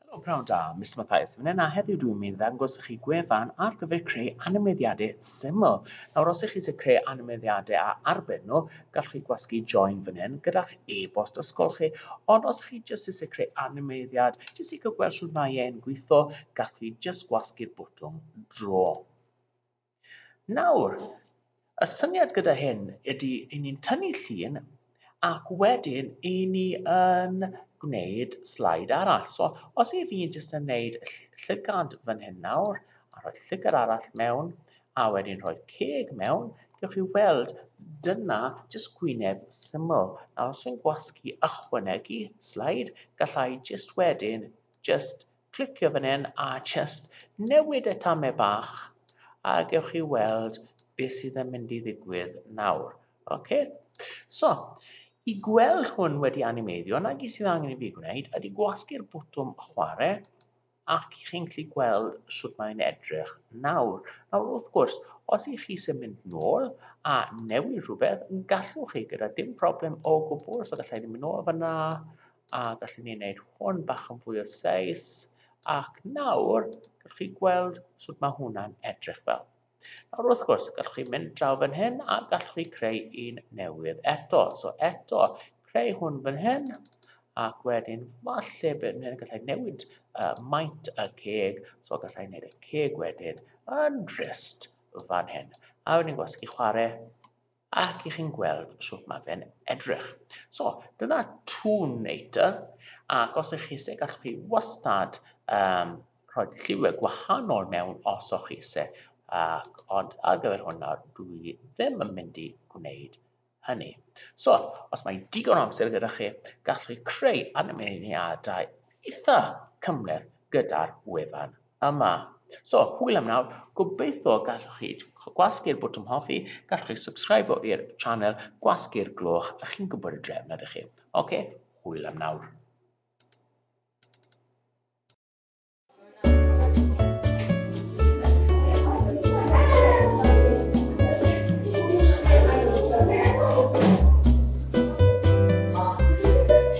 Helo pnawn da, Mister Mathias fan hyn a heddiw dwi'n mynd i ddangos i chi gwefan ar gyfer creu animeiddiadau syml. Nawr os ych chi eisiau creu animeiddiadau a arbed nhw, gallwch chi gwasgu join fan hyn gyda'ch e-bost ysgol chi, ond os ych chi jyst eisiau creu animeiddiad, jyst i cael gweld shwt mae e'n gweithio, gallwch chi jyst gwasgu'r bwtwm draw. Nawr, y syniad gyda hyn ydy i ni'n tynnu llun ac wedyn i ni yn gwneud slide arall. So, os i fi'n jyst yn gwneud llygad fan hyn nawr, a rhoi llygad arall mewn, a wedyn rhoi'r ceg mewn, gewch chi weld dyna jyst gwyneb syml. Nawr, os fi'n gwasgu ychwanegu slide, gallai jyst wedyn jyst Clicio fan hyn a jyst newid y tamau bach a gewch chi weld beth sydd yn mynd i ddigwydd nawr. Ok, so i gweld hwn wedi animeiddio, na gyd sydd angen i fi gwneud ydy gwasgu'r bwtwm chwarae ac i chi'n gallu gweld sut mae'n edrych nawr. Nawr wrth gwrs, os i chi sy'n mynd nôl a newid rhywbeth, gallwch chi gyda dim problem o gwbl, so gallai ni mynd nôl fyna a gallen ni wneud hwn bach yn fwy o seis ac nawr gallwch chi gweld sut mae hwnna'n edrych fel. Nawr wrth gwrs, gallwch chi mynd draw fan hyn a gallwch chi creu un newydd eto. So eto, creu hwn fan hyn ac wedyn falle bydd hyn gallai newid uh, maint y ceg, so gallai wneud y ceg wedyn yn drist fan hyn. A wedyn gwasgu chwarae ac i chi'n gweld sut mae fe'n edrych. So, dyna Toon Nature, ac os ych chi eisiau gallwch chi wastad um, rhoi lliwiau gwahanol mewn os o'ch chi eisiau, ac, ond ar gyfer hwnna dwi ddim yn mynd i gwneud hynny. So, os mae digon o amser gyda chi, gallwch chi creu animeiddiadau eitha cymleth gyda'r wefan yma. So, hwyl am nawr, gobeithio gallwch chi gwasgu'r botwm hoffi, gallwch chi subscribio i'r channel, gwasgu'r gloch, a chi'n gwybod y drefn ydych chi. Oce, hwyl am nawr.